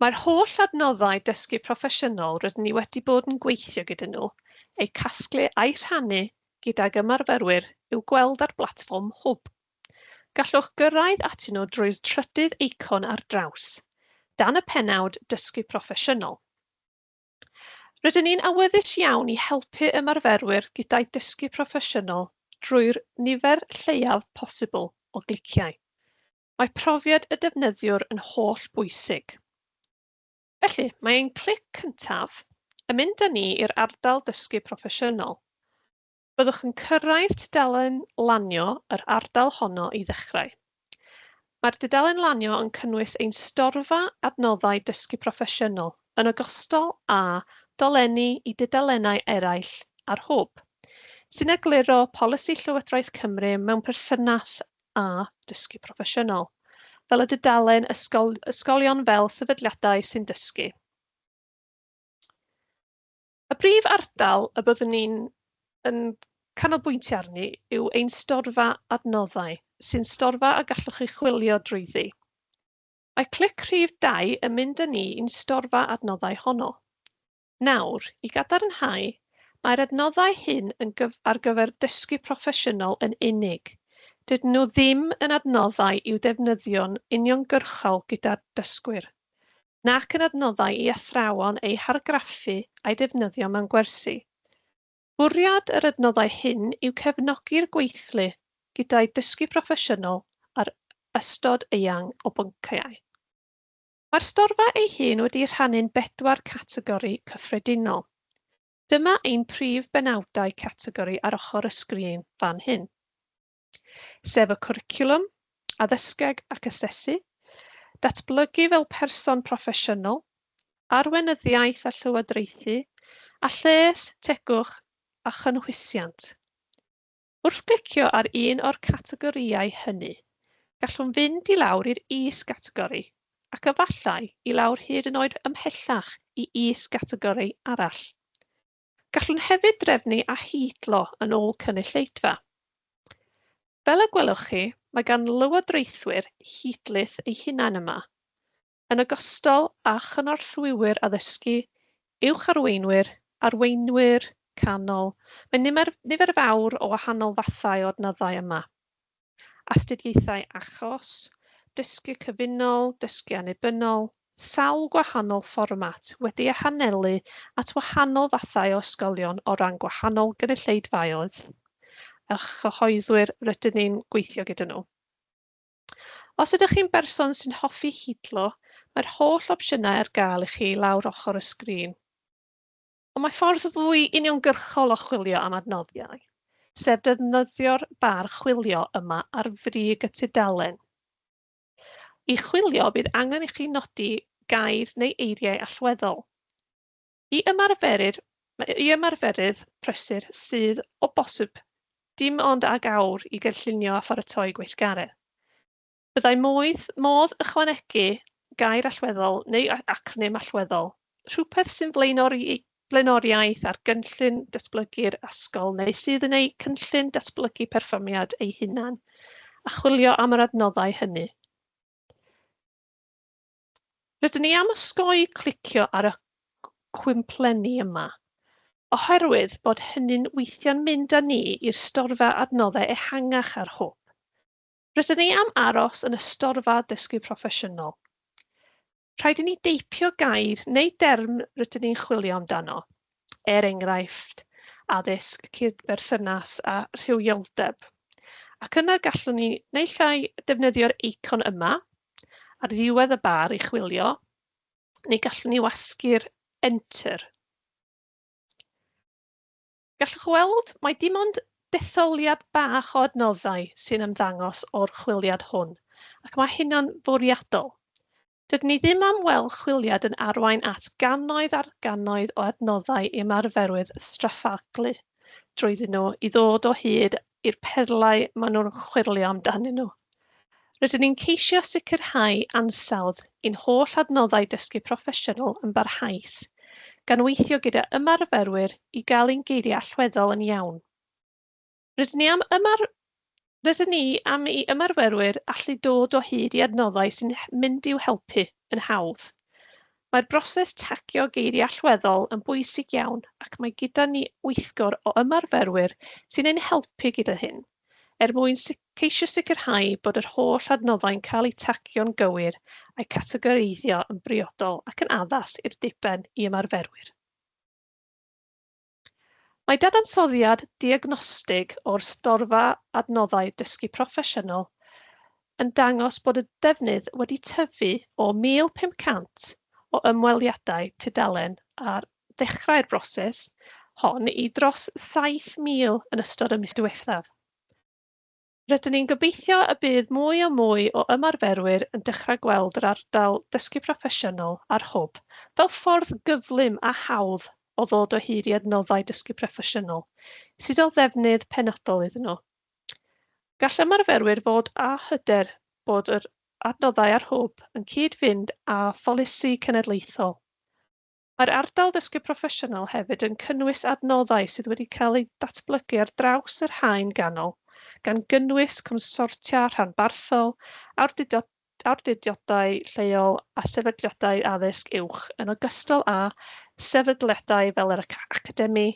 Mae'r holl adnoddau dysgu proffesiynol rydyn ni wedi bod yn gweithio gyda nhw, eu casglu a'u rhannu gydag ymarferwyr i'w gweld ar blatfform Hwb. Gallwch gyrraedd atyn nhw drwy'r trydydd eicon ar draws, dan y pennawd Dysgu Proffesiynol. Rydyn ni'n awyddus iawn i helpu ymarferwyr gyda'u dysgu proffesiynol drwy'r nifer lleiaf posibl o gliciau. Mae profiad y defnyddiwr yn holl bwysig. Felly, mae ein clic cyntaf yn mynd â ni i'r ardal dysgu proffesiynol. Byddwch yn cyrraedd tudalen lanio yr ardal honno i ddechrau. Mae'r dudalen lanio yn cynnwys ein storfa adnoddau dysgu proffesiynol yn ogystal â dolenni i dudalennau eraill a'r Hwb, sy'n egluro polisi Llywodraeth Cymru mewn perthynas a dysgu proffesiynol, fel y dudalen ysgol, ysgolion fel sefydliadau sy'n dysgu. Y brif ardal y byddwn ni'n yn canolbwyntio arni yw ein storfa adnoddau, sy'n storfa a gallwch chi chwilio drwyddi. Mae clic rhif 2 yn mynd â ni i'n storfa adnoddau honno. Nawr, i gadarnhau, mae'r adnoddau hyn yn ar gyfer dysgu proffesiynol yn unig. Dydyn nhw ddim yn adnoddau i'w defnyddio'n uniongyrchol gyda'r dysgwyr, nac yn adnoddau i athrawon eu hargraffu a'u defnyddio mewn gwersi. Bwriad yr adnoddau hyn yw cefnogi'r gweithlu gyda'u dysgu proffesiynol ar ystod eang o bynciau. Mae'r storfa ei hun wedi'i rhannu'n bedwar categori cyffredinol. Dyma ein prif benawdau categori ar ochr y sgrin fan hyn, sef y cwricwlwm, addysgeg ac asesu, datblygu fel person proffesiynol, arweinyddiaeth a llywodraethu, a lles, tegwch a chynhwysiant. Wrth glicio ar un o'r categorïau hynny, gallwn fynd i lawr i'r is-gategori, ac efallai i lawr hyd yn oed ymhellach i is-gategori arall. Gallwn hefyd drefnu a hidlo yn ôl cynulleidfa. Fel y gwelwch chi, mae gan lywodraethwyr hidlith eu hunain yma. yn ogystal â chynorthwywyr addysgu, uwch arweinwyr, arweinwyr canol, mae nimer, nifer fawr o wahanol fathau o adnoddau yma. Astudiaethau achos, dysgu cyfunol, dysgu annibynnol, sawl gwahanol fformat wedi eu hanelu at wahanol fathau o ysgolion o ran gwahanol gynulleidfaoedd a chyhoeddwyr rydyn ni'n gweithio gyda nhw. Os ydych chi'n berson sy'n hoffi hidlo, mae'r holl opsiynau ar gael i chi lawr ochr y sgrin. Ond mae ffordd fwy uniongyrchol o chwilio am adnoddiau, sef defnyddio'r bar chwilio yma ar frig y tudalen. I chwilio, bydd angen i chi nodi gair neu eiriau allweddol. I ymarferydd, i ymarferydd prysur sydd, o bosib, dim ond ag awr i gynllunio a pharatoi gweithgaredd, byddai modd, modd ychwanegu gair allweddol neu acronym allweddol, rhywbeth sy'n flaenori, blaenoriaeth ar gynllun datblygu'r ysgol neu sydd yn eu cynllun datblygu perfformiad eu hunan, a chwilio am yr adnoddau hynny. Rydyn ni am osgoi clicio ar y cwymplenni yma, oherwydd bod hynny'n weithio'n mynd â ni i'r storfa adnoddau ehangach ar hwb. Rydyn ni am aros yn y storfa dysgu proffesiynol. Rhaid i ni deipio gair neu derm rydyn ni'n chwilio amdano, er enghraifft, addysg, cydberthynas a rhywioldeb, ac yna gallwn ni naill ai defnyddio'r eicon yma, ar ddiwedd y bar i chwilio, neu gallwn ni wasgu'r Enter. Gallwch weld mae dim ond detholiad bach o adnoddau sy'n ymddangos o'r chwiliad hwn, ac mae hynna'n fwriadol. Dydyn ni ddim am weld chwiliad yn arwain at gannoedd ar gannoedd o adnoddau i ymarferwyr straffaglu drwyddyn nhw i ddod o hyd i'r perlau maen nhw'n chwyrlio amdanyn nhw. Rydyn ni'n ceisio sicrhau ansawdd i'n holl adnoddau dysgu proffesiynol yn barhaus, gan weithio gyda ymarferwyr i gael ein geiriau allweddol yn iawn. Rydyn ni am ymar... Rydyn ni am i ymarferwyr allu dod o hyd i adnoddau sy'n mynd i'w helpu yn hawdd. Mae'r broses tagio geiriau allweddol yn bwysig iawn ac mae gyda ni weithgor o ymarferwyr sy'n ein helpu gyda hyn, er mwyn ceisio sicrhau bod yr holl adnoddau'n cael eu tagio'n gywir a'u categoreiddio yn briodol ac yn addas i'r diben i ymarferwyr. Mae dadansoddiad diagnostig o'r Storfa Adnoddau Dysgu Proffesiynol yn dangos bod y defnydd wedi tyfu o 1,500 o ymweliadau tudalen ar ddechrau'r broses hon i dros 7,000 yn ystod y mis diwethaf. Rydyn ni'n gobeithio y bydd mwy a mwy o ymarferwyr yn dechrau gweld yr ardal dysgu proffesiynol a'r Hwb fel ffordd gyflym a hawdd o ddod o hyd i adnoddau dysgu proffesiynol sydd o ddefnydd penodol iddyn nhw. Gall ymarferwyr fod â hyder bod yr adnoddau a'r Hwb yn cyd-fynd â pholisi cenedlaethol, Mae'r ardal ddysgu proffesiynol hefyd yn cynnwys adnoddau sydd wedi cael eu datblygu ar draws yr haen ganol, gan gynnwys consortia rhanbarthol, awdurdodau lleol a sefydliadau addysg uwch, yn ogystal â sefydliadau fel yr Academi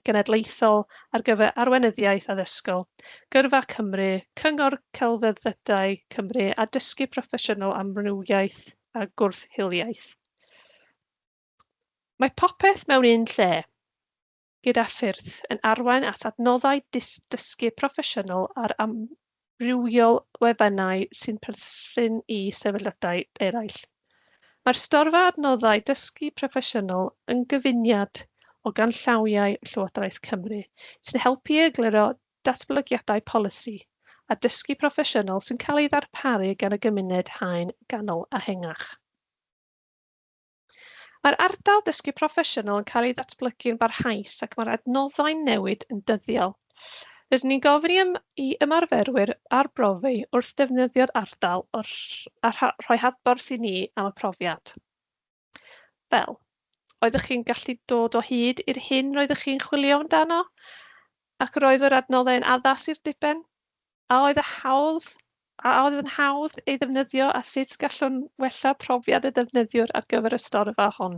Genedlaethol ar gyfer Arweinyddiaeth Addysgol, Gyrfa Cymru, Cyngor Celfyddydau Cymru a Dysgu Proffesiynol Amrywiaeth a Gwrth-hiliaeth. Mae popeth mewn un lle, gyda ffyrdd, yn arwain at adnoddau dysgu proffesiynol ar amrywiol wefannau sy'n perthyn i sefydliadau eraill. Mae'r storfa adnoddau dysgu proffesiynol yn gyfuniad o ganllawiau Llywodraeth Cymru sy'n helpu i egluro datblygiadau polisi a dysgu proffesiynol sy'n cael ei ddarparu gan y gymuned haen ganol a hengach. Mae'r ardal dysgu proffesiynol yn cael ei ddatblygu'n barhaus ac mae'r adnoddau'n newid yn dyddiol. Rydyn ni'n gofyn i ym i ymarferwyr arbrofi wrth ddefnyddio'r ardal o'r a rhoi hadborth i ni am y profiad. Fel, oeddech chi'n gallu dod o hyd i'r hyn roeddech chi'n chwilio amdano? Ac roedd yr adnoddau yn addas i'r diben? A oedd y hawdd, a oedd yn hawdd ei ddefnyddio a sut gallwn wella profiad y defnyddiwr ar gyfer y storfa hon?